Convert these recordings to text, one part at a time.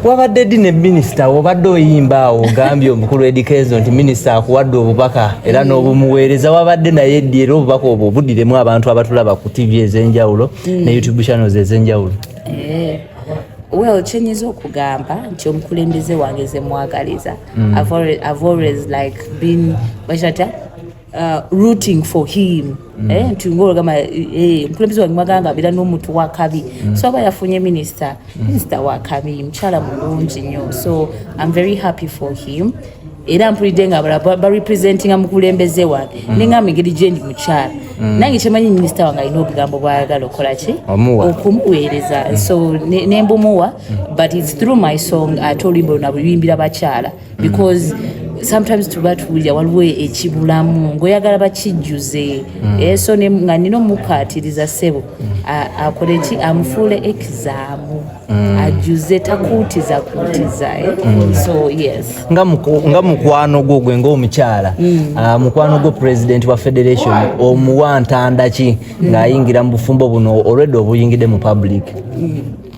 wabadde ddi ne minisita obadde oyimba awo ogambye omukulu edikezo nti minisita akuwadde obubaka era mm. n'obumuweereza wabadde naye ddi era obubaka obwo budiremu abantu abatulaba ku tv ez'enjawulo mm. ne youtube channels ez'enjawulo eh, well kyenyiza okugamba nti omukulembeze wange zemwagaliza mm. i've always like been bakirata Uh, rooting for him mm. eh, nti ngologamba eh, mukulembeze wange mwaganga abeera n'omuntu wakabi mm. so aba yafunye minisita mm. minisita wakabi mukyala mulungi nnyo so im very happy for him era mpulidde nga abalala barepresentinga mukulembeze wange mm. nengamba engeri gyendi mukyala mm. nange kyemanyi minisita wange alina obugambo bwayagala okola ki okumuweereza mm. so nembumuwa but its through my song ate oluyimba luna buyimbira bakyala because sometimes tuba tuwulira waliwo ekibulamu ngaoyagala bakijjuze mm. eh, so nga nina omukaatiriza ssebo akole ki amufuule ekizaamu mm. ajjuze takuutiza kuutiza eh. mm. so yes nga mukwano gwo gwe ngaomukyala ah, mukwano gwo president wa federation omuwa ntandaki ng'ayingira mu bufumbo buno olwedde obuyingidde mu public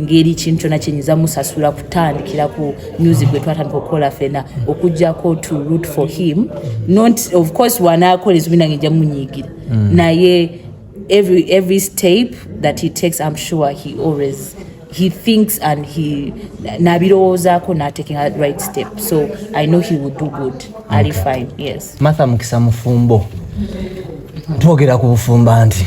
ngeri kintu kyona kyenyinza musasula kutandikira ku music gwe twatandika okukola fena okujjako to root for him not of course wanakola ezubi nange nja munyigira mm. naye every, every step that he takes i'm sure he always he thinks and he nabirowoozako nataking a right step so i know he will do good okay. ali fine yes martha mukisa mufumbo twogera ku bufumba nti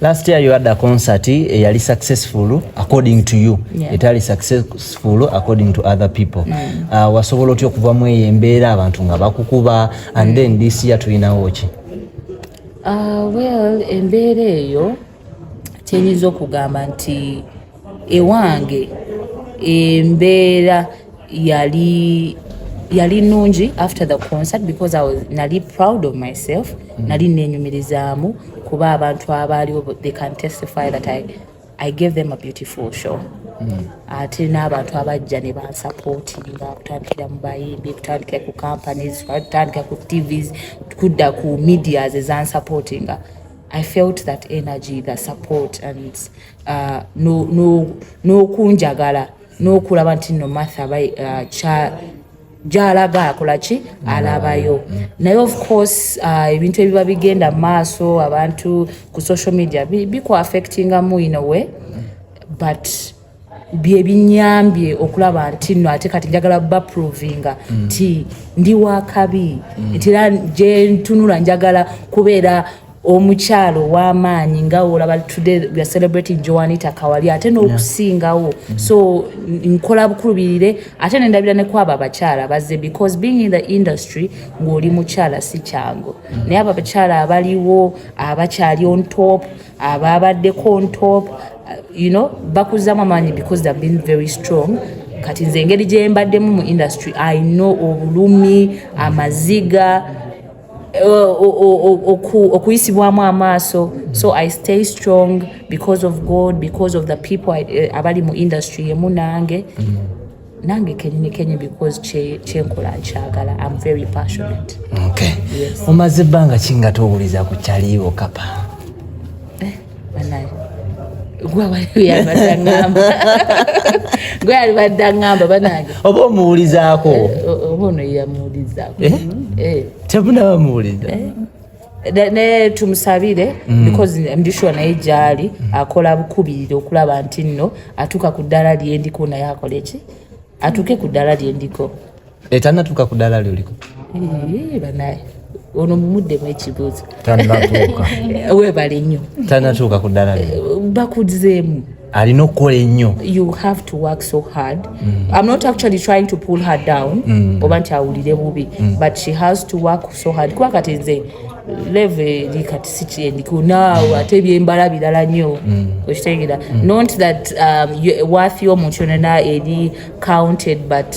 Last year you had a concert eyali eh, successful according to you yeah. etali successful according to other people mm. uh, wasobola otya okuva mu eyo embeera abantu nga bakukuba and mm. then this year tulinawo ki uh, well embeera eyo tenyinza okugamba nti ewange embeera yali yali nungi after the concert because I was nali proud of myself mm -hmm. nali nenyumirizaamu kuba abantu abaaliwo they can testify that I, I gave them a beautiful show mm. ate n'abantu abajja ne bansapootinga kutandikira mu bayimbi kutandikira ku companies kutandikira ku tvs kudda ku medias ezansapootinga i felt that energy the support and uh, n'okunjagala n'okulaba nti no matha uh, gyalaga akola ki alabayo naye of course uh, ebintu uh, ebiba bigenda mu maaso abantu ku social media bikuaffectingamu in a way but byebinyambye okulaba nti no ate kati njagala baprovinga mm. nti mm. ndi wakabi mm. nti era gyentunula njagala kubeera omukyalo ow'amaanyi nga olaba today we are celebrating joanita kawali ate n'okusingawo mm. so nkola bukulubirire ate nendabira ne kwabo abakyala bazze because being in the industry ng'oli mukyala si kyangu mm. naye abo abakyala abaliwo abakyali on top ababaddeko on top uh, you know bakuzamu amaanyi because they've been very strong kati nze engeri gye mbaddemu mu industry i know obulumi amaziga okuyisibwamu amaaso so i stay strong because of god because of the people eh, abali mu industry emu nange mm. nange kenyini kenyi because kyenkola nkyagala am very passionate omaze ebbanga kingate owuliza ku kyaliiwo kapa gwe alibadde aŋamba banange oba omuwulizaako eh, oba ono yamuwulizaako eh? eh. tebunaba muwuliza naye tumusabire mm. because ndishuwa naye gyali mm. akola bukubirira okulaba nti nno atuuka ku ddala lyendiko naye akole ki atuuke ku ddala lyendiko etanatuuka ku ddaala lyoliko banaye ono mumuddemu ekibuuzo tanatuuka webale nnyo tanatuuka ku ddaala eh, bakuzeemu alina okukola ennyo you have to work so hard mm. i'm not actually trying to pull her down mm. oba nti awulire bubi mm. but she has to work so hard kuba kati nze leve eri kati sikyendiku naawe ate byembala birala nnyo mm. okitegera mm. not that um, worth yomuntu yonana eri counted but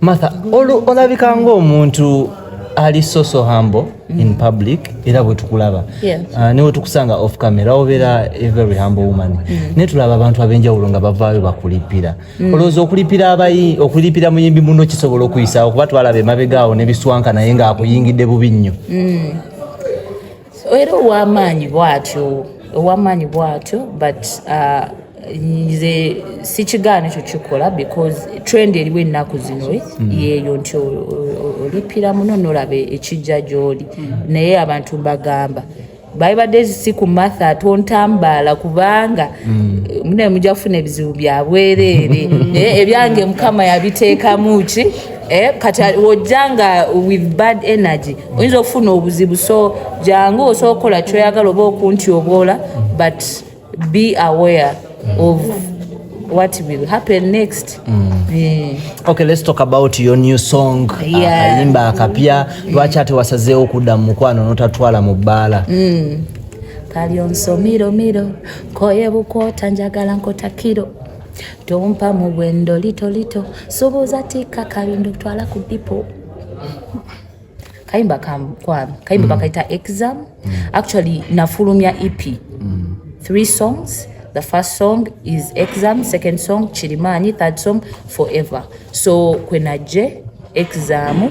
Martha, olabika ng'omuntu ali soso hambo mm. in public era bwe tukulaba yeah. uh, ne bwe tukusanga off camera obeera a very humble woman mm. naye tulaba abantu ab'enjawulo nga bavaayo bakulippira mm. olowooza okulippira abayi okulippira muyimbi muno kisobola okuyisaawo kuba twalaba emabegaawo ne biswanka naye ng'akuyingidde bubi nnyo mm. era ow'amaanyi bw'atyo ow'amaanyi bw'atyo but uh, nze sikigaana ekyo kikola because trend eriwo ennaku zino eh, mm. yeeyo nti olipira muno nolaba ekijja gy'oli mm. naye abantu mbagamba babibadde si ku matha tontambaala kubanga mm. mune mujja kufuna ebizibu byabwereere eh, ebyange mukama yabiteekamu ki Eh, kati wojja nga with bad energy oyinza okufuna obuzibu so jangu osobola okukola kyoyagala oba okunti obwola but be aware of what will happen next mm. yeah. okay let's talk about your new song akayimba akapya lwaki ate wasazeewo okudda mu mukwano notatwala mu bbaala mm. kali onsomiro miro koye bukwota njagala nkotakiro Tompa mu bwendo lito lito subuza tika kabindo twala ku dipo kayimba kwami kayimba mm. bakaita exam mm. actually nafulumya ep mm. three songs the first song is exam second song chirimani third song forever so kwenaje exam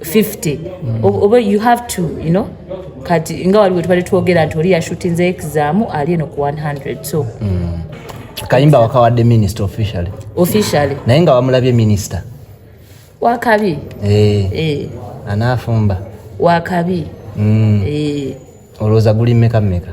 50 mm. oba you have to you know kati nga waliwo tubadde twogera nti oli yashutinze exam ali eno ku 100 so mm. kayimba wakawadde minister officially officially naye nga wamulabye minister wakabi eh. Eh. anaafumba wakabi mm. eh. olowooza guli mmeka mmeka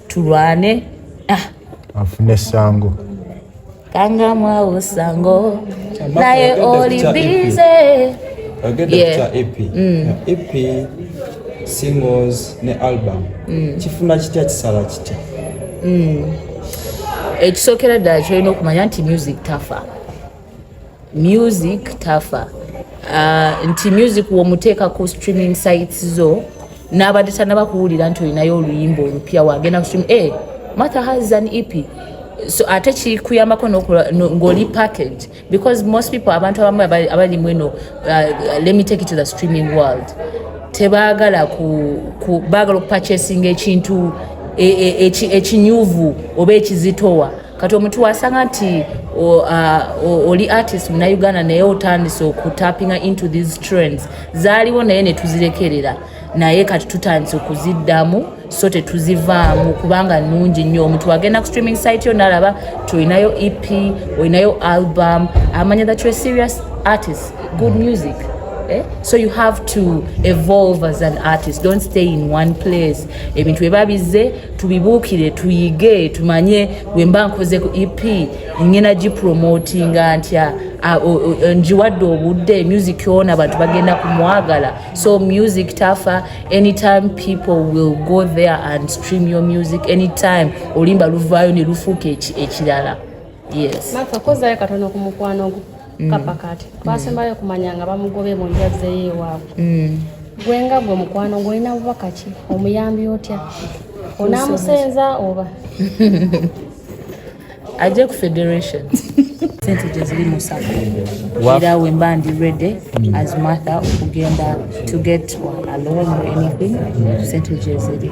tulwane ah. afune sango kanga mwawo sango naye oli bize singles ne album mm. kifuna kitya kisala kitya mm. ekisookera ddala kyolina okumanya nti music tafa music tafa uh, nti music womuteeka ku streaming sites zo n'abadde tanaba kuwulira nti olinayo oluyimba olupya wagenda ku streaming hey, eh, matha has an ep so ate kikuyambako ngoli package because most people abantu abamu abali mweno uh, let me take it to the streaming world tebagala ku, ku bagala okupurchasinga ekintu ekinyuvu e, e, e oba ekizitowa kati omuntu wasanga nti uh, oli artist muna uganda naye otandise okutapinga into these trends zaaliwo naye netuzirekerera naye kati tutandise okuziddamu so tetuzivaamu kubanga nungi nnyo omuntu agenda ku streaming site yo nalaba ti olinayo ep olinayo album amanya that you're serious artist good music Eh? so you have to evolve as an artist don't stay in one place ebintu bye babizze tubibuukire tuyige tumanye wemba nkoze ku ep ngena gipromotinga ntya njiwadde obudde music yona abantu bagenda kumwagala so music tafa anytime people will go there and stream your music anytime olimba luvaayo ne lufuuka ekirala yes mm. kapa kati twasembayo okumanya nga bamugobye mu njazzeyo ewaabwe mm. gwe nga gwe mukwano ng'olina bubaka ki omuyambi otya onaamusenza oba ajje ku federation sente gyeziri mu sako era wemba ndi ready mm. as mather okugenda to get a loan or anything sente gyeziri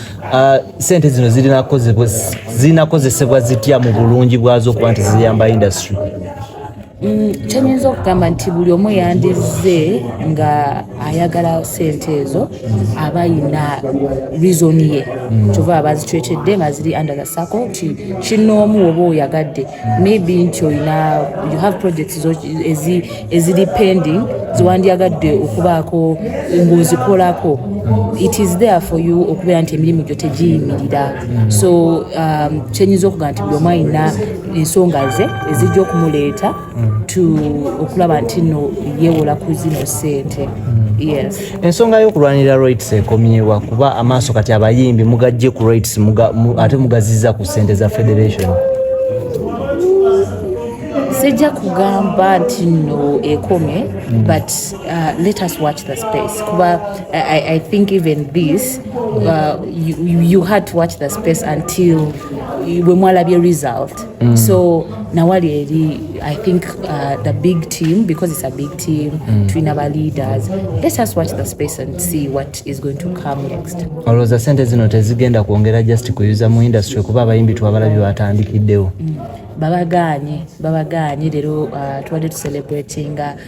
Uh, sente zino zirina kozesebwa zitya mu bulungi bwazo okuba nti ziyamba industry mm, kyenyinza okugamba nti buli omu yandize nga ayagala sente ezo aba yina reason ye mm. kyova abazitwetedde baziri under the circle nti kinoomu oba oyagadde maybe nti olina you have projects eziri pending zewandyagadde okubaako ng'ozikolako it is there for you okubeera nti emirimu gyo tegiyimirira so um, kyenyinza okuga nti buli omu alina ensonga ze ezijja okumuleeta to okulaba nti no yeewola ku zino sente yes Ensonga y'okulwanirira rights ekomyewa kuba amaaso kati abayimbi mugajje ku rights muga, mu, ate mugaziza ku sente za federation. Sijja kugamba nti no ekomye mm. but uh, let us watch the space kuba I, I think even this uh, you, you had to watch the space until we mwalabye result Mm. So nawali eri I think uh, the big team because it's a big team mm. twina ba leaders let us watch the space and see what is going to come next. Olowooza sente zino tezigenda kwongera just kuyuza mu industry kuba abayimbi twabalabi batandikiddewo. Mm. Babagaanye babagaanye leero uh, tubadde tucelebratinga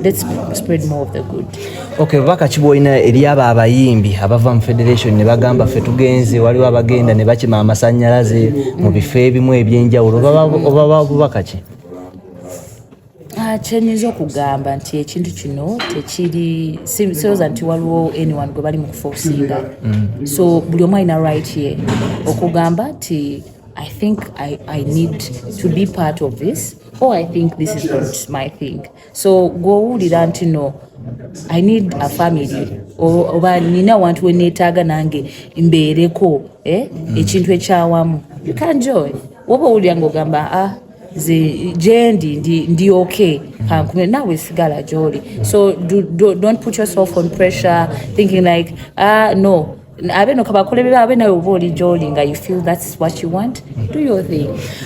Let's spread more of the good. Okay, baka kiboina eri abo abayimbi abava mu federation ne bagamba fe tugenze waliwo abagenda ne bakima amasanyalaze mu bifo ebimu ebyenjawulo oba bubaka ki kyenyinza okugamba nti ekintu kino tekiri siroza nti waliwo anyone gwe bali mu kufosinga mm. so buli omu alina right ye okugamba nti i think I, i need to be part of this Oh, I think this is not my thing. So gwowulira nti no I need a family oba nina wantu weneetaaga nange mbeereko eh? mm. ekintu ekyawamu you can joy woba owulira ngaogamba ah, jendi ndi, ndi okay kankume nawe sigala gyoli so do, do, don't put yourself on pressure thinking like ah, no abe no kabakolebera abe nawe oba oli gyoli nga you feel that's what you want do your thing